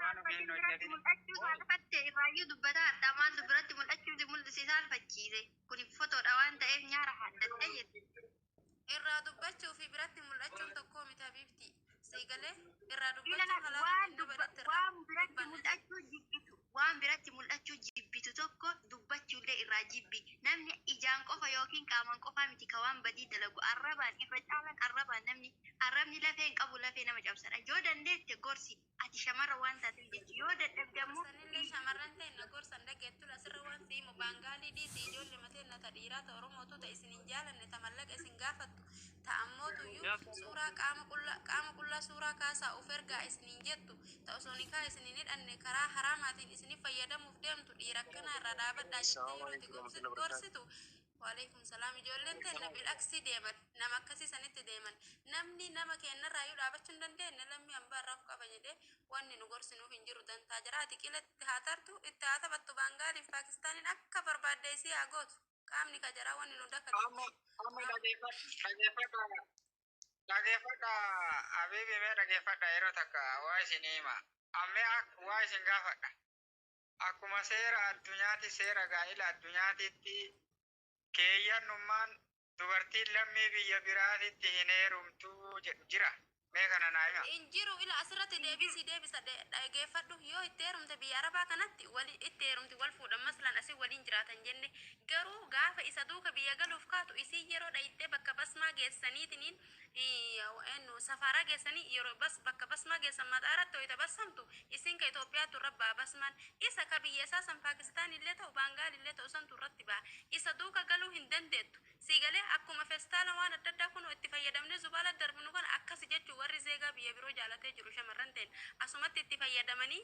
Waan Dubartiin ogeeyyiin biratti hojjetanii. mul'achuu saalfatte irraayyuu dubbata hadhaa maaltu biratti mul'achuu si mul'ise saalfachiise. Kuni fotoodha waan ta'eef nyaara haaddattee jette. Irraa dubbachuu fi biratti mul'achuun tokkoo miti habiibti. Sii galee irraa dubbachuu Ilala halaala waan kan nama dubba irratti irraa waan biratti dubbanna. mul'achuu jibbitu waan biratti mul'achuu jibbitu tokko dubbachuullee irraa jibbi. Namni ijaan qofa yookiin qaamaan qofaa miti ka waan badii dalagu arrabaan irra caalaan arrabaan namni arrabni lafee hin qabu lafee nama cabsadha. Yoo dandeette gorsi. Ati shamarra waan taateef jechi yoo dadhabde ammoo Sanillee shamarran ta'e na gorsan dhageettu asirra waan si'imu baangaalii dhiisi ijoollee mateen na ta dhiiraa ta oromootu ta isin hin jaalanne ta mallaqa isin gaafattu ta ammootuyyuu suuraa qaama qullaa qaama qullaa suuraa kaasaa of ergaa isiniin jettu ta osoo nikaa isin hin hidhanne karaa haraamaatiin isinif fayyadamuuf deemtu dhiira akkanaa irraa dhaabadhaa jettee yeroo itti gorsi- gorsitu Waaleykum salaam ijoolleen teenna bil'aksii deeman nama akkasii sanitti deeman namni nama keennarraa iyyuu dhaabachuu hin dandeenye lammii hambaa irraa of qaba jedhee wanni nu gorsinuuf hin jiru dantaa jira ati qila itti haa tartu itti haa taphattu baangaaliif paakistaaniin akka barbaadde isii haa gootu qaamni ka jaraa wanni nu dakatu Amma amma dhageeffadha dhageeffadha abiibi mee dhageeffadha yeroo takka waa isin hima ammee waa isin gaafadha Akkuma seera addunyaati seera gaa'ila addunyaatiitti keeyyannummaan dubartiin lammii biyya biraatitti hin heerumtuu jedhu jira? Mee kana naa hima. Hin jiru ila asirratti deebii sii deebisa dhageeffadhu yoo itti heerumte biyya arabaa kanatti wali itti heerumti wal fuudhan maslan asi waliin jiraatan jenne garuu gaafa isa duuka biyya galuuf kaatu isiin yeroo dhayxee bakka basmaa geessaniitiniin Iyyaawa'eennu safaaraa geessanii yeroo bas bakka basmaa geessan mataa irratti hoyta bassamtu isin ka Itoophiyaattu irra ba'a basmaan isa ka biyya isaa san Paakistaan illee ta'u Baangaal illee ta'u santu irratti ba'a isa duuka galuu hin dandeettu sii galee akkuma festaala waan adda addaa kunoo itti fayyadamnee zubaala darbinu kana akkasi jechuun warri zeegaa biyya biroo jaalatee jiru shamarran teenna asumatti itti fayyadamanii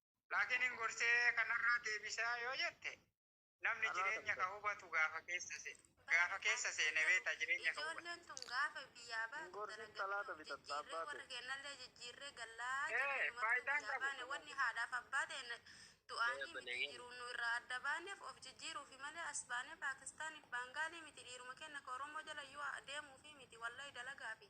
Laakiin hin gorsee kanarraa deebisaa yoo jette namni Kanaa jireenya kan kan hubatu gaafa keessa se- gaafa keessa seene beekta jireenya kan hubatu. Ijoolleen tun gaafa biyyaa baatu Hin gorsin dalagatee salaata of bitatta jijjiirree abbaa warra ta'e. keenyallee jijjiirree gallaa Eh, jennee numattuu faayidaan biyyaa qabu baane kun wanni haadhaaf abbaa ta'e na- du'aanii miti Eebbaleeyyee. jiruun nu irraa adda baaneef of jijjiiruufi malee as baanee Paakistaaniif Baangaalii miti dhiiruma keenya ka Oromoo jala yoo deemuufi miti wallahi dalagaafi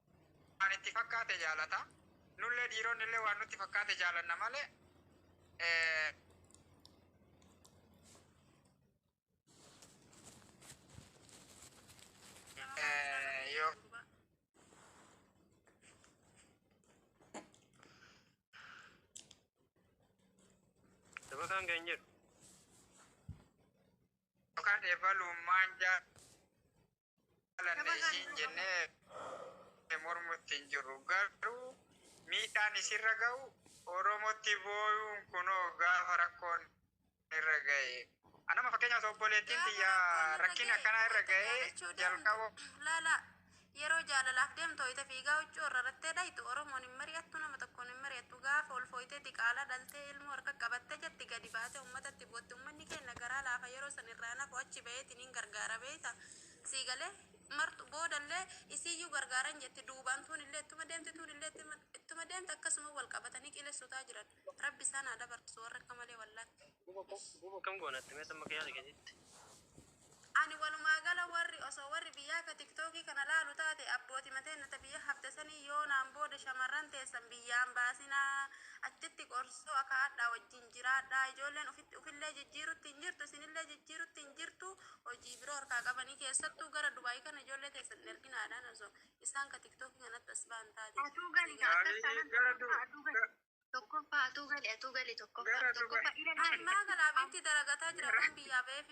waan itti fakkaate jaalata. Nullee dhiironni illee waan nutti fakkaate jaalanna malee eh, eh, yoo Dabataan kan jedhu. yookaan eebaluun maan jaa isiin jennee mormutti hin jirru garuu miidhaan isirra ga'u oromotti booyuun kunoo gaafa rakkoon irra ga'e anama fakkeenyaaf obboleettiin tiyya rakkin akkanaa irra ga'e jalqaba Laala yeroo jaalalaaf deemtu ho'ite fiigaa huccuu irra irrattee dhayitu Oromoon hin mari'attu nama tokkoon hin mari'attu gaafa ol fooyitee diqaalaa dhaltee ilmoo harka qabattee jetti gadi baatee uummatatti bootti uummanni keenya garaa laafa yeroo san irraa nafu achi ba'eeti. Nin gargaara beekta. Sii galee? Martu boodallee isiiyyuu gargaaran jetti duubaan tuunillee ittuma deemti tuunillee ittuma- ittuma deemti akkasuma wal qabatanii qilessutaa jiran. Rabbi isaan haa dabarsu warra akka malee wallaatti. Bubu akkam goona itti meetan bakka yaada keetitti. Ani walumaa gala warri osoo warri biyyaa akka tiktookii kana laalu taate abbooti mateen nata biyya hafte sanii yoo naan booda shamarran teessan biyyaan baasinaa achitti qorsoo akaadhaa wajjin jiraadhaa ijoolleen ofitti ofillee jijjiirutti hin jirtu isinillee jijjiirutti hin jirtu hojii biroo harkaa qabanii keessattuu gara dubaayii kana ijoollee teessan hin erginaadhaan osoo isaan ka tiktookii kanatti as ba'an taate Atuu gali gaa akkas taanaan tokkoffaa atuu gali. Tokkoffaa atuu gali atuu gali tokkoffaa. Gara Dubai. Tokkoffaa ila gali. ammaa galaabiitti daragataa jira waan biyyaa ba'eef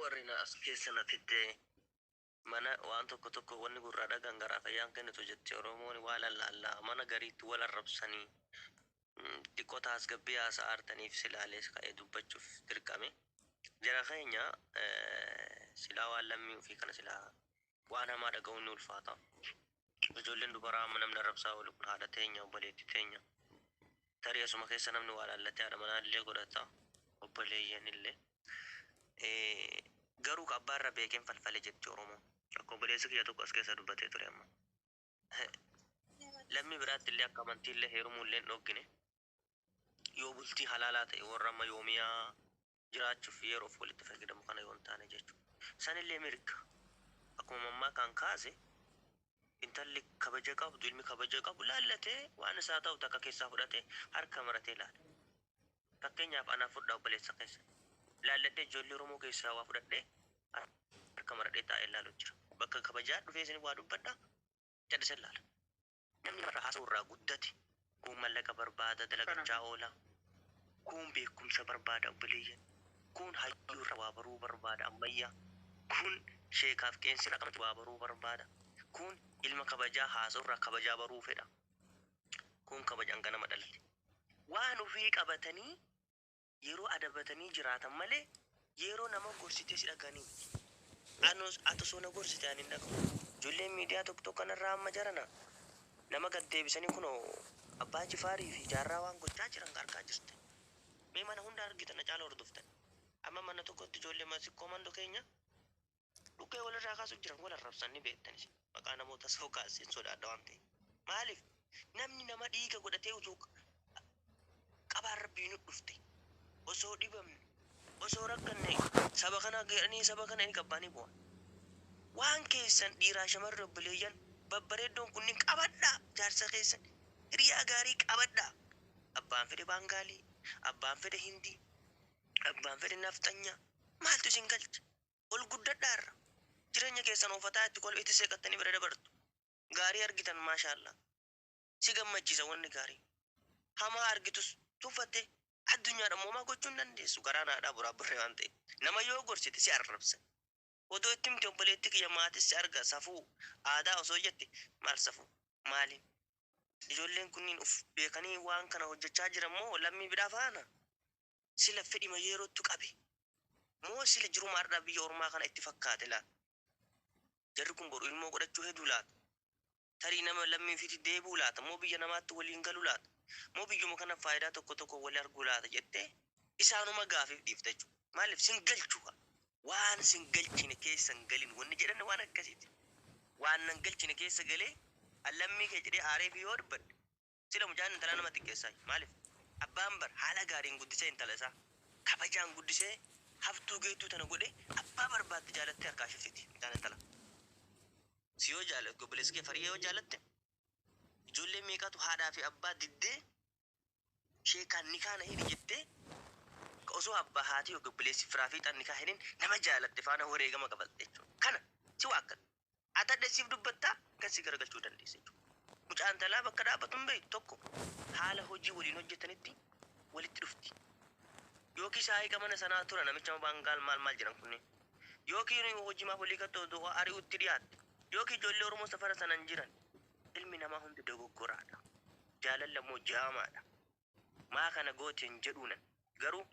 Warri na as keessa na fidde mana waan tokko tokko wanni gurraa dhagaan garaaf ayyaan kennitu jetti oromooni waa lallaalla mana gariitti wal arrabsanii diqqo taasgabbii haasa'a artaniif silaalees ka'ee dubbachuuf dirqame jara keenya silaa waan lammii ufii kana silaa Waan hamaa dhaga'uun ni ulfaata. Ijoolleen dubaraa amma namni arrabsaa oolu kun haadha teenya, obboleettii teenya. Tarii asuma keessa namni waa laallatee haadha manaa illee godhata, obboleeyyan illee. Garuu ka abbaa irra beekeen falfale jetti Oromoon. Akka obboleessi kiyya tokko as keessa dubbatee ture amma. Lammii biraatti illee akka amantii illee heerumuu illee hin dhooggine. Yoo bultii halaalaa ta'e warra amma yoomiyaa jiraachuuf yeroof walitti fayyadamu kana yoo hin taane jechuudha. Sanillee mirga. Akkuma mammaakaan kaase intalli kabaja qabdu, ilmi kabaja qabu laallatee waan isaa ta'u takka keessaa fudhatee harka maratee laala. Fakkeenyaaf anaa fudhaa obboleessa keessa. Laalladhee ijoollee Oromoo keessaa waa fudhadhee harka maradhee taa'ee laalu jira. Bakka kabajaa dhufee isin waa dubbadha callisee laala. Namni namarraa haasa'u irraa guddate kuun mallaqa barbaada dalagachaa oola, kuun beekumsa barbaada obboleeyyan, kuun hayyuu irraa waa baruu barbaada ammayyaa, kuun sheekaaf qeensi irraa akkamitti waa baruu barbaada, kuun ilma kabajaa haasa'u irraa kabajaa baruu fedha, kuun kabajaan ganama dhalte. Waan ofii qabatanii yeroo adabatanii jiraatan malee yeroo nama gorsitee si dhagahanii miti. Anos ati osoo na gorsite ani hin dhaga'u. Ijoolleen miidiyaa tokko tokko kanarraa amma jarana nama gad deebisanii kunoo Abbaa Jifaarii fi Jaarraa waan gochaa jiran argaa jirtan. Mee mana hunda argitan Hacaaluu hordoftan. Amma mana tokkotti ijoollee Masikkoo Mando keenya Dhukkee walirraa kaasuuf jiran wal arrabsan ni beektan isin. Maqaa namoota soo kaassin sodaadha waan ta'e. Maaliif namni nama dhiiga godhatee utuu qabaan rabbii nu dhufte osoo dhibamne osoo rakkanne saba kana jedhanii saba kana ni qabbaanii bu'a. Waan keessan dhiiraa shamarri obboleeyyan babbareeddoon kunniin qabadhaa jaarsa keessan hiriyaa gaarii qabadhaa. Abbaan fedhe baangaalii, abbaan fedhe hindii, abbaan fedhe nafxanyaa maaltu isin galche? Ol guddadha har'a. Jireenya keessan ofataa itti kolf itti seeqattanii bira dabartu. Gaarii argitan maashaallaah. Si gammachiisa wanni gaariin. Hamaa argitus tuffattee addunyaadha immoo homaa gochuu hin dandeessu garaan haadhaa buraabburree waan ta'eef. Nama yoo gorsite si arrabsan. Odoo itti himte obboleettii kiyya maatis si arga safuu aadaa osoo jette maal safuu maaliin. Ijoolleen kunniin uf beekanii waan kana hojjachaa jiran moo lammii bidhaa faana? sila fedhima yeerottu qabe moo sila jiruma hardha biyya ormaa kana itti fakkaate laata jarri kun boru ilmoo godhachuu heduu laata tarii nama lammii ufiiti deebi'u laata moo biyya namaatti waliin galu laata moo biyyuma kana faayidaa tokko tokko wali arguu laata jette isaanuma gaafif dhiifta jechuu maalif sin galchu kaa waan sin galchine keessa hin galin wanni jedhan waan akkasiiti waan nan galchine keessa galee an lammii kee jedhee aareefi yoo dubbadhe Sila mucaan intalaa nama xiqqeessaayyu. Maaliif? Abbaan bar haala gaariin guddisee intala isaa. Kabajaan guddisee haftuu geettuu tana godhee abbaa barbaadde jaalattee harkaa ishee fixiti mucaan intalaa. Si yoo jaalattu obboleessa kee Fariya yoo jaalatte ijoollee meeqatu haadhaa fi abbaa diddee sheekaan nikaa na hidhi jettee ka osoo abbaa haati yookiin obboleessi firaa fiixaan nikaa hidhin nama jaalatte faana wareegama kafalti jechuudha. Kana si waakkata. Ati hadha isiif dubbattaa kan si garagalchuu dandeessa jechuudha. Mucaan talaa bakka dhaabbatu hin beektu tokko haala hojii waliin hojjetanitti walitti dhufti. Yookiin shaayiqa mana sanaa tura namicha baangaal maal maal jedhan kunneen. Yookiin hojii maaf olii gattoo du'a ari'utti dhiyaatte. Yookiin ijoollee Oromoo safara sanan jiran. Ilmi namaa hundi dogoggoraadha. Jaalalli ammoo jaamaadha. Maa kana goote hin jedhuunan. Garuu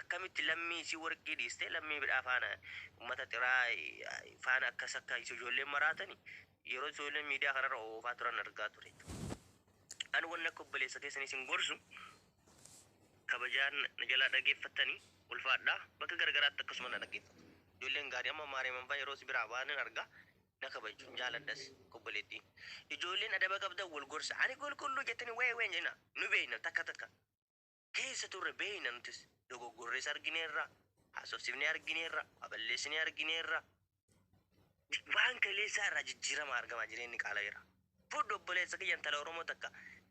akkamitti lammii isii warqii dhiistee lammii biraa faana ummata xiraa faana akkas akka ijoolleen maraatani yeroo ijoolleen miidiyaa kanarra oofaa turan argaa ture. An wanni akka obboleessa keessanii isin gorsu kabajaan na jalaa dhageeffattani ulfaadhaa bakka garagaraatti akkasuma na dhaggeeffatu. Ijoolleen gaarii amma maareeman faa yeroo si biraa ba'an hin arga na kabajju jaaladhas obboleettii ijoolleen adaba qabdan wal gorsa ani qulqulluu jettanii wayee wayee hin jedhina nu beeyna takka takka keessa turre beeyna nutis dogoggorrees argineerra haasofsifnee argineerra waa balleessinee argineerra waan kaleessaa irraa jijjiirama argama jireenyi qaalayeera fudhu obboleessa kiyya intala oromoo takka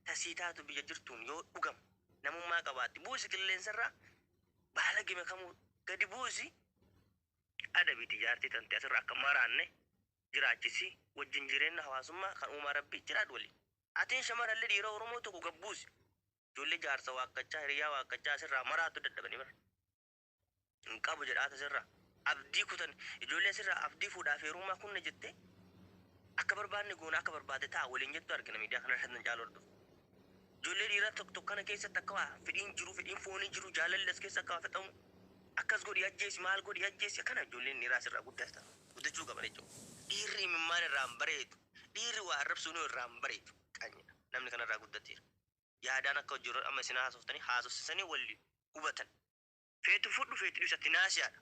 tasii taatu biyya jirtuun yoo dhugam namummaa qabaatti buusi qilleensarraa baala gime kamuu gadi buusi adabiti jaartii tante asirra akka maraanne jiraachisi wajjin jireenna hawaasummaa kan uumaa rabbii jiraadhu waliin atiin shamaralli dhiira oromoo tokko gad buusi ijoollee jaarsa waakkachaa hiriyyaa waakkachaa asirraa maraattu dadhabani bar hin qabu jedhaata asirraa abdii kutan ijoollee asirraa abdii fuudhaaf heerummaa kunna jettee akka barbaanne goona akka barbaade ta'a waliin jettu argina miidiyaa kana irratti nan caalu hordofu Ijoollee dhiiraa tokko tokko kana keessatti akka waa fedhiin jiru, fedhiin foonii jiru, jaalalli as keessa akka waa fixamu, akkas godhii ajjeesi, maal godhii ajjeesi, akkana ijoolleen dhiiraa asirraa guddatan, guddachuu qaban jechuudha. Dhiirri imimmaan irraa hin bareedu, dhiirri waa arrabsuunuu irraa hin bareedu, qanyiidha. Namni kanarraa guddateera. Yaadaan akka ijoolleen amma isin haasoftanii haasofsiisanii wal hubatan. Feetu fudhu, feetu dhiisi ati naasiyaadha.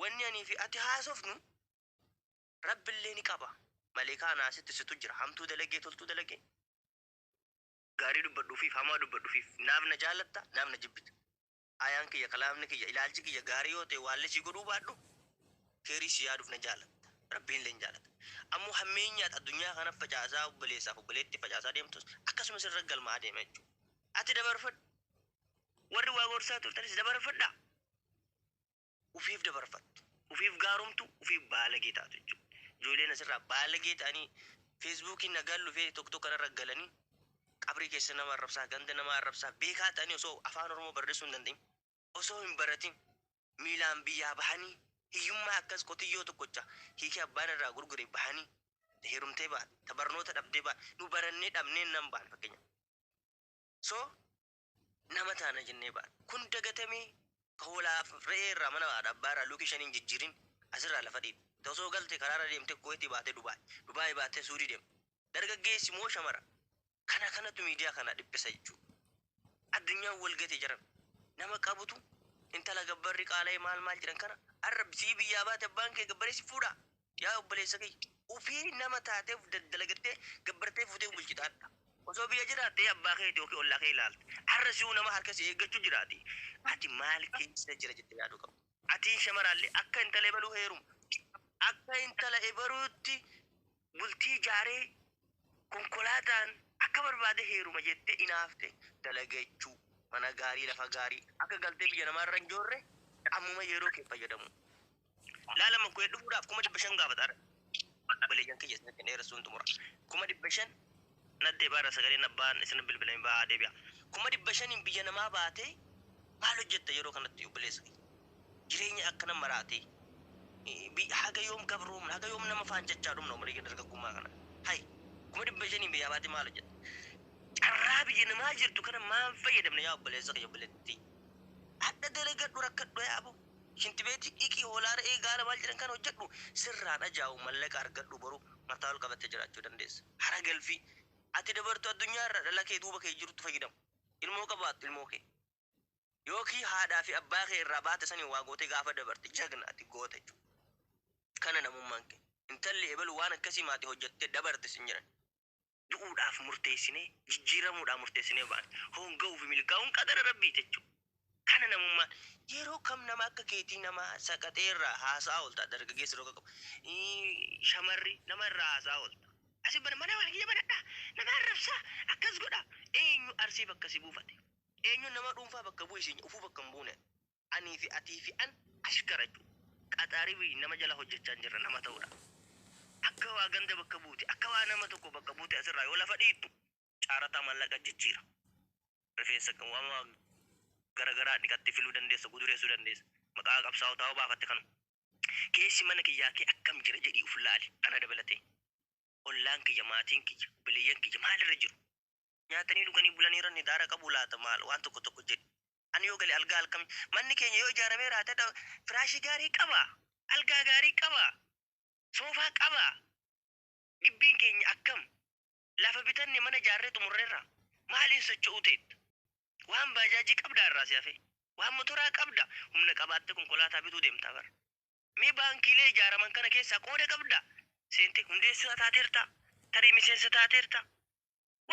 Wanni anii fi ati haasofnu Rabbillee ni qaba. Maleekaa anaa asitti situ jira. Hamtuu dalagee toltuu dalagee. Gaarii dubbadhu ufiif hamaa dubbadhu ufiif. Naaf na jaalatta naaf na jibbita. Aayaan kiyya kalaamni kiyya ilaalchi kiyya gaarii yoo ta'e waallee sii godhuu baadhu keeyrii sii yaaduuf na jaalatta. Rabbiinillee ni jaalata. Ammoo hammeenyi ati addunyaa kana facaasaa obboleessaaf obboleetti facaasaa deemtus akkasuma sirra galmaa'aa deema jechuudha. Ati dabarfadhu. Warri waa gorsaa turtanis dabarfadhaa. ufiif dabarfattu, ufiif gaaromtu, ufiif baalagee taatu jechuudha. Ijoolleen asirraa baalagee ta'anii feesbuukiin nagaan lufee tokko tokko irra galanii qabrii keessa nama arrabsaa, ganda nama arrabsaa, beekaa ta'anii osoo afaan Oromoo barreessuu hin danda'in, osoo hin baratin miilaan biyyaa bahanii hiyyummaa akkas qotiyyoo tokkocha hiikee abbaan irraa gurgure bahanii ta heerumtee baate, ta barnoota dhabdee baate, nu barannee dhabnee nan baane fakkeenyaaf. So nama taana jennee baane. Kun dagatamee ka hoolaa fi re'ee irraa mana haadha abbaa irraa luukii shanii hin jijjiirin asirraa lafa dhiibi. Tasoo galte karaarra deemte Kuweeti baate Dubaay, Dubaay baate Suudii deemta. Dargaggeessi moo shamara? Kana kanatu miidiyaa kana dhiphisa jechuudha. Addunyaan wal gate jaran. Nama qabutu intala gabbarri qaala'ee maal maal jedhan kana har'a sii biyyaa baate abbaan kee gabbaree si fuudhaa? Yaa obboleessa kiyya, ufii nama taatee uf daddalagattee gabbartee fuutee bulchita hadha. Osoo biyya jiraattee abbaa keeti ykn ollaa kee ilaalta. Har'a si'uu nama harka si eeggachu jiraati. Ati maal keessa jira jettee yaaduu qabda. Atiin shamaraallee akka intala ebaluu heeruma, akka intala ebaluutti bultii jaaree konkolaataan akka barbaade heeruma jettee inaafte dalagachuu, mana gaarii lafa gaarii akka galtee biyya namaarra hin joorre ammuma yeroo kee fayyadamuu. Laa lama kuyee dhufuudhaaf kuma dhibba shan gaafata ara. Obboleeyyan kiyya isin ittiin dheeressuun xumura. Kuma dhibba shan naddee baara sagaleen abbaan isin bilbilame ba'aa deebi'a. Kuma dhibba shaniin biyya namaa baatee maal hojjetta yeroo kanatti obboleessa kiyya? Jireenya akkana maraatee eh, bi- haga yoom gabroomna haga yoom nama faancachaa dhumna obboleeyyan dargaggummaa kana. Hay kuma dhibba shaniin biyyaa baatee maal hojjetta? Carraa biyya namaa jirtu kana maan fayyadamna yaa obboleessa kiyya obboleettii? Hadha dalagadhu rakkadhu yaa aboo. Shinti beeti dhiqi hoolaa re'ee gaala maal jedhan kan hojjadhu sirraan ajaa'u mallaqa argadhu boru mataa ol qabatte jiraachuu dandeessa hara galfii ati dabartu addunyaa irra dhala kee duuba kee jirutti fayyadamu ilmoo qabaattu ilmoo kee yookii haadhaa fi abbaa kee irraa baate saniin waa gootee gaafa dabarte jagna ati goota jechu kana namummaan kee intalli ebelu waan akkasii maati hojjatte dabarte sin jedhan du'uudhaaf murteessinee, jijjiiramuudhaa murteessinee baane. Hoonga'uu fi milkaa'uun qadara Rabbii ti jechuudha. Kana namummaan. Yeroo kam nama akka keetii nama saqaxee irraa haasa'aa oolta? Dargaggeessi roga qabu. Shamarri nama irraa haasa'aa oolta. Asi bana mana kiyya banadhaa, nama arrabsaa, akkas godhaa. Eenyu Arsii bakka si buufate? Eenyu nama dhuunfaa bakka bu'e siin jedhe? Ufuu bakka hin buune. Anii fi atii fi an ashkara cu. Qaxaari fi nama jala hojjachaan jirra nama ta'uudha. Akka waa ganda bakka buute akka waa nama tokko bakka buute asirraa yoo lafa dhiittu caarataa mallaqa jijjiira. Rifeensa wama gara garaa dhiqatte filuu dandeessa gudureessuu dandeessa. Maqaa qabsaa'otaa yoo baafatte kanuma. Keessi mana kiyyaa kee akkam jira jedhii uf laali ana dabalatee. Ollaan kiyya maatiin kiyya obboleeyyan kiyya maalirra jiru? Nyaatanii dhuganii bulaniira nidaara qabu laata maal waan tokko tokko jedhi. Ani yoo gale algaa alkami manni keenya yoo ijaaramee raate dha firaashii gaarii qaba algaa gaarii qaba soofaa qaba gibbiin keenya akkam lafa bitanne mana ijaarree xumurreerra maaliin socho'uu teetta waan baajaajii qabdaa irraa si hafee waan motoraa qabda humna qabaattee konkolaataa bituu deemtaa bara mee baankiilee ijaaraman kana keessaa qooda qabda seentee hundeessaa taateerta tarii miseensa taateerta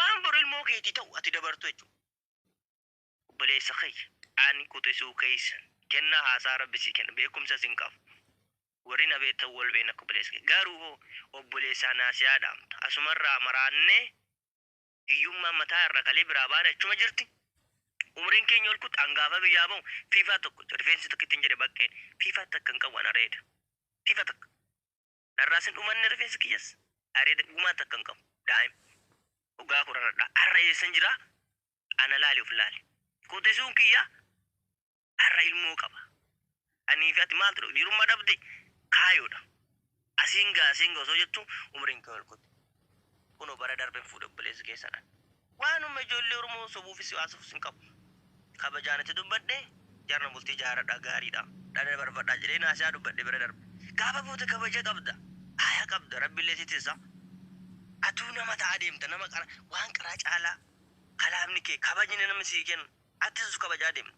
waan boru ilmoo keetii ta'u ati dabartu jechuudha. Obboleessa kiyya, ani quxisuu keessa kennaa haasaa Rabbi sii kenna, beekumsas hin qabu. Warri na beektan wal beekna akka obboleessa kiyya. Garuu hoo obboleessaa naasiyaa dhaamta. Asuma irraa maraannee hiyyummaan mataa irra kalee biraa baane achuma jirti. Umriin keenya ol kutte angaafa biyyaa bahu fiifaa tokko rifeensi takka ittiin jedhe baqqeen fiifaa takka hin qabu ana reeda. Fiifaa takka. Dharraas hin dhumanne rifeensi kiyyas. Areeda gumaa takka hin qabu. Daa'im. Dhugaa koo raradhaa. Har'a eessan jiraa? Ana laali of laali. Qotesuun kiyya har'a ilmoo qaba. Anii fi ati maaltu dha? Jirummaa dhabde kaayoodha. Asiin gaa asiin gaa osoo jettu umriin kee ol kute. Kuno bara darben fuudhe obboleessi keessan an. Waanuma ijoollee Oromoo sobuufis siwaasuufis hin qabu. Kabajaan itti dubbadhe jarna bultii jaaradha gaariidha. Dhada barbadha jedhee naasiyaa dubbadhe bira darbe. Gaafa fuute kabaja qabda. Aaya qabda rabbillee si tissa. Atuu nama ta'a deemta nama qara waan qaraa caalaa kalaamni kee kabajni namni sii kennu attis kabajaa deemta.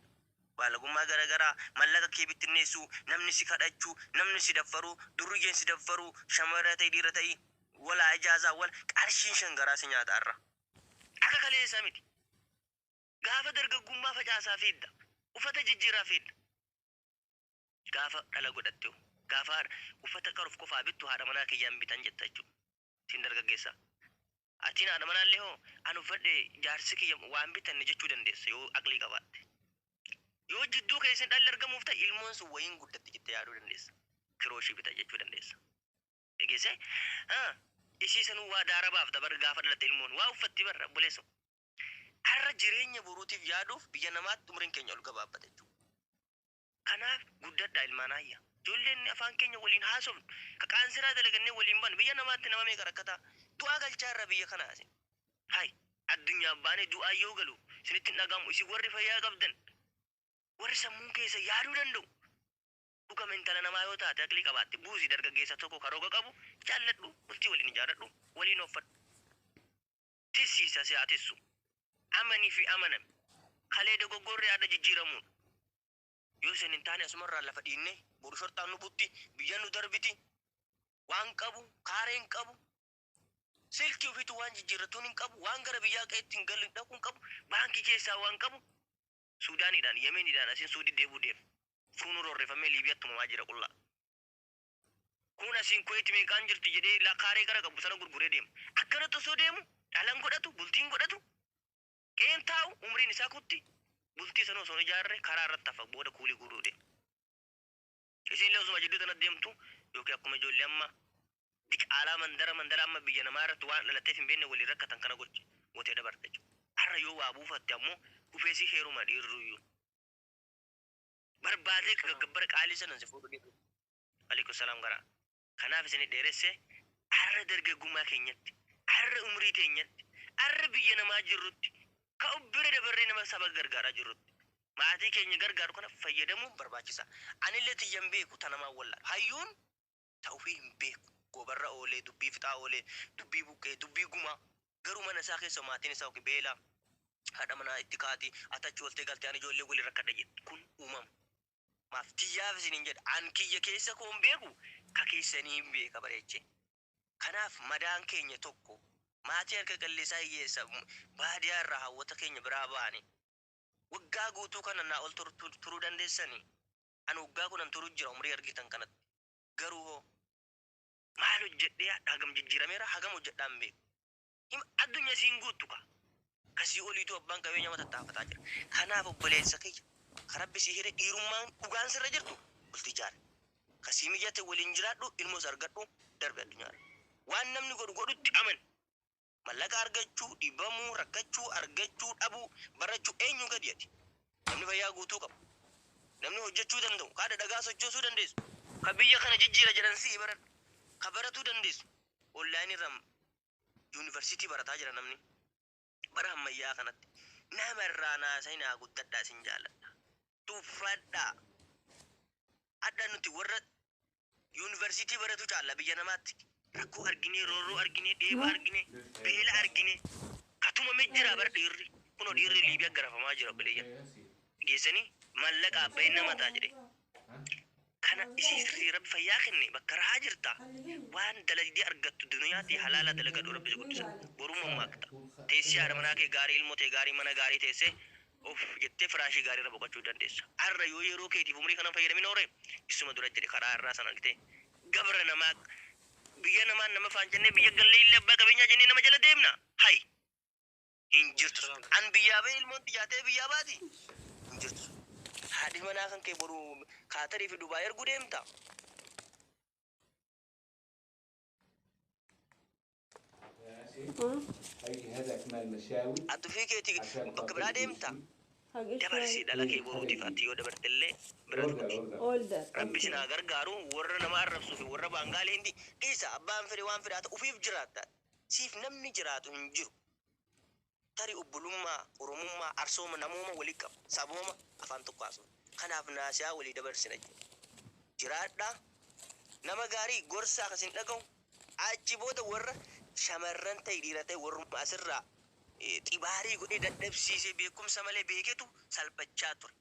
Baalagummaa gara garaa, mallaqa kee bittinneessuu, namni si kadhachuu, namni si daffaruu, durriyyeen si daffaruu, shamara ta'i dhiira ta'i, walaa ijaazaa wal, qarshiin shan garaa si nyaata arra. Akka kaleessa miti. Gaafa dargaggummaa facaasaa fiigda. Uffata jijjiiraa fiigda. Gaafa dhala godhatte hoo? Gaafa uffata qaruf qofaa bittu haadha manaa kiyyan bitan jetta jechuudha. Sin dargaggeessa. Atiin haadha manaallee hoo an uffadhe jaarsi kiyya waan bitanne jechuu dandeessa yoo aqlii qabaatte. Yoo jidduu keessan dhalli argamuuf ta'e ilmoon sun wayiin guddatti jette yaaduu dandeessa. Kiroo ishii bita jechuu dandeessa. Dhageessee? Haa, isii sanuu waa daara baafta bar gaafa dhalatte ilmoon. Waa uffatti bar obboleessoo. Har'a jireenya boruutiif yaaduuf biyya namaatti umriin keenya ol gabaabbata jechuudha. Kanaaf guddadhaa ilmaan aayya. Jolleen afaan keenya waliin haasofnu, ka qaansiraa dalagannee waliin bannu, biyya namaatti nama meeqa rakkataa du'aa galchaa irra biyya kana isin. Hay! Addunyaa baanee du'aan yoo galu isinitti hin dhaga'amu isin warri fayyaa qabdan, warri sammuun keessan yaaduu danda'u. Dhugama intala namaa yoo taate aqlii qabaatte buusi dargaggeessa tokko ka roga qabu jaalladhu bultii waliin ijaarradhu waliin ooffadhu. Tissii isa si haa tissu. Amani fi amanami. Kalee dogoggorre har'a jijjiiramuudha. Yoo isin hin taane asumarraa lafa dhiinnee boru shorxaan nu butti, biyyan nu darbiti. Waan qabu, kaaree hin qabu. Silkii ofiitu waan jijjiirratuun hin qabu, waan gara biyyaa qe'eetti hin galin dhaquu hin qabu, baankii keessaa waan qabu Suudaaniidhaan, Yemeniidhaan asin Suudii deebuu deema. Suunuu roorrifamee Liibiyaatti tumamaa jira qullaa. Kun asiin Kuwait meeqaan jirti jedhee la kaaree gara qabu sana gurguree deema. Akkanatti osoo deemu dhalan godhatu, bultiin godhatu, qe'een taa'u, umriin isaa kutti, bultii sana osoo hin ijaarre karaa irratti hafa booda kuulii guuruu deema. Isiinillee osuma jidduu tanatti deemtu yookiin akkuma ijoollee amma diqaalaa mandara mandara amma biyya namaa irratti waan dhalateef hin beekne waliin rakkatan kana gocha gootee dabarta jechuudha. Har'a yoo waa buufatte ammoo dhufee si heeruma dhiirruyyuu. barbaadee ka gabbara qaalii sanan si fuudhu dhibu. Alaikum salaam gara. Kanaaf isin dheeresse arra dargaggummaa keenyatti, arra umrii teenyatti, arra biyya namaa jirrutti, ka of bira dabarree nama saba gargaaraa jirrutti, maatii keenya gargaaru kana fayyadamuun barbaachisa. Anillee tiyyan beeku ta namaan wallaalu. Hayyuun ta'ufii hin beeku. Goobarra oolee, dubbii fixaa oolee, dubbii buqqee, dubbii gumaa. Garuu mana isaa keessa maatiin isaa ok beela, haadha manaa itti kaati, ati achi ooltee galte ani ijoollee waliin rakkadha jedha. Kun uumama. Maaf tiyyaaf isiniin jedha. An kiyya keessa koo hin beeku, ka keessanii hin beeka bareechee. Kanaaf madaan keenya tokko. Maatii harka qalleessaa hiyyeessa baadiyaa irraa hawwata keenya biraa baane. Waggaa guutuu kana naa ol turuu dandeessanii? Ani waggaa kudhan turu jira umrii argitan kanatti. Garuu hoo. Maal hojjedhee hadha hagam jijjiirameera hagam hojjedhaa hin beeku. Hima addunya isii hin guuttu kaa. Ka sii oliituu abbaan qabeenya ma tattaafataa jira. Kanaaf obboleessa kiyya ka rabbi sii hire dhiirummaan dhugaan sirra jirtu bulti ijaari. Ka sii mijate waliin jiraadhu ilmoos argadhu darbi addunyaarra. Waan namni godhu godhutti amani. Mallaqa argachuu, dhibamuu, rakkachuu, argachuu, dhabuu, barachuu eenyuu gadi ati? Namni fayyaa guutuu qabu, namni hojjachuu danda'u, ka adha dhagaa sochoosuu dandeessu, ka biyya kana jijjiira jedhan si'i baradhu, ka baratuu dandeessu online irra university barataa jira namni bara hammayyaa kanatti. Nama irraa naasayinaa guddadhaa sin jaaladha. Tuffadhaa. Adha nuti warra Yuunivarsiitii baratu caalla biyya namaatti. Rakkoo arginee, roorroo arginee, dheeba arginee, beela arginee ka tumame jira bar dhiirri. Kunoo dhiirri Liibiyaa garafamaa jira obboleeyyan. Geessanii maallaqa abbayeen nama ta'a jedhee. Kana isii sirrii rabbi fayyaa kenne bakka rahaa jirta waan dalagdee argattu duniyaa tee halaala dalagadhu rabbi si guddisa. Boruu mammaakta. Teessii haadha manaa kee gaarii ilmoo tee gaarii mana gaarii teessee Uff jettee firaashii gaarii irra boqachuu dandeessa. Arra yoo yeroo keetiif umrii kana hin fayyadamin oole, issuma dura jedhe karaa arraa san argitee. Gabra namaa Biyya namaa nama faan jennee biyya gallee illee abbaa qabeenyaa jennee nama jala deemna? Hay! Hin jirtu sun. An biyyaa bahee ilmoon tiyyaa tee biyyaa baati? Hin jirtu sun. Haadhi manaa kan kee boru Kaatarii fi Dubaay erguu deemta? Atufii keeti bakka biraa deemta? Dabarsii dhala kee boruutiif ati yoo dabartellee bira dugdi. Rabbi isin haa gargaaru warra nama arrabsuu fi warra baangaalee hindi dhiisa abbaan fedhe waan fedhaa ta'u ufiif jiraatta siif namni jiraatu hin jiru. Tarii obbolummaa, Oromummaa, Arsooma, namooma wali qabna. Sabooma, afaan tokko haasofna. Kanaaf naasihaa walii dabarsina jechuudha. Jiraadhaa. Nama gaarii, gorsaa ka sin dhagahu. Achi booda warra shamarran ta'i dhiira ta'i warruma asirraa xibaarii godhee dadhabsiisee beekumsa malee beeketu salphachaa ture.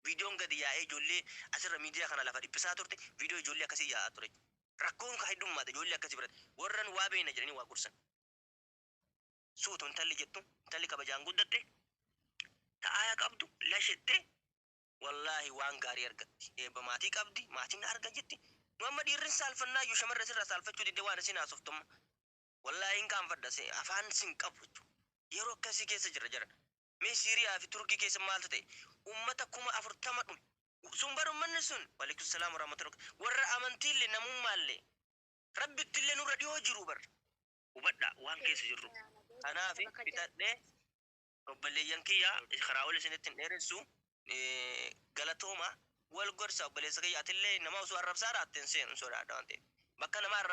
Viidiyoon gadi yaa'ee ijoollee asirra miidiyaa kana lafa dhiphisaa turte viidiyoo ijoollee akkasii yaa'aa ture jechuudha. Rakkoon ka heddummaate ijoollee akkasii biratti. Warran waa beekna jedhanii waa gorsan. suutu intalli jettu intalli kabajaan guddatte ta aayaa qabdu lashette wallaahi waan gaarii argatti eebba maatii qabdi maatiin na arga jetti nu amma dhiirrin saalfannaa iyyuu shamarra sirraa saalfachuu didde waan isin haasoftumma wallaahi hin qaanfadha se afaan sin qabu jechuudha. yeroo akkasii keessa jirra jara mee siiriyaa fi turkii keessa maaltu ta'e ummata kuma afurtama dhume sun bar ummanni sun walikum salaam warahmatullahi warra amantiille namummaalle rabbittillee nurra dhihoo jiru bar hubadha waan keessa jirru kanaaf bitadhe obboleeyyan kiyya karaa ol isinitti hin dheeressu eh, galatooma wal gorsa obboleessa kiyya atillee nama osoo arrabsaa raatte hin seenu hin sodaadha waan ta'eef bakka nama arrabsaa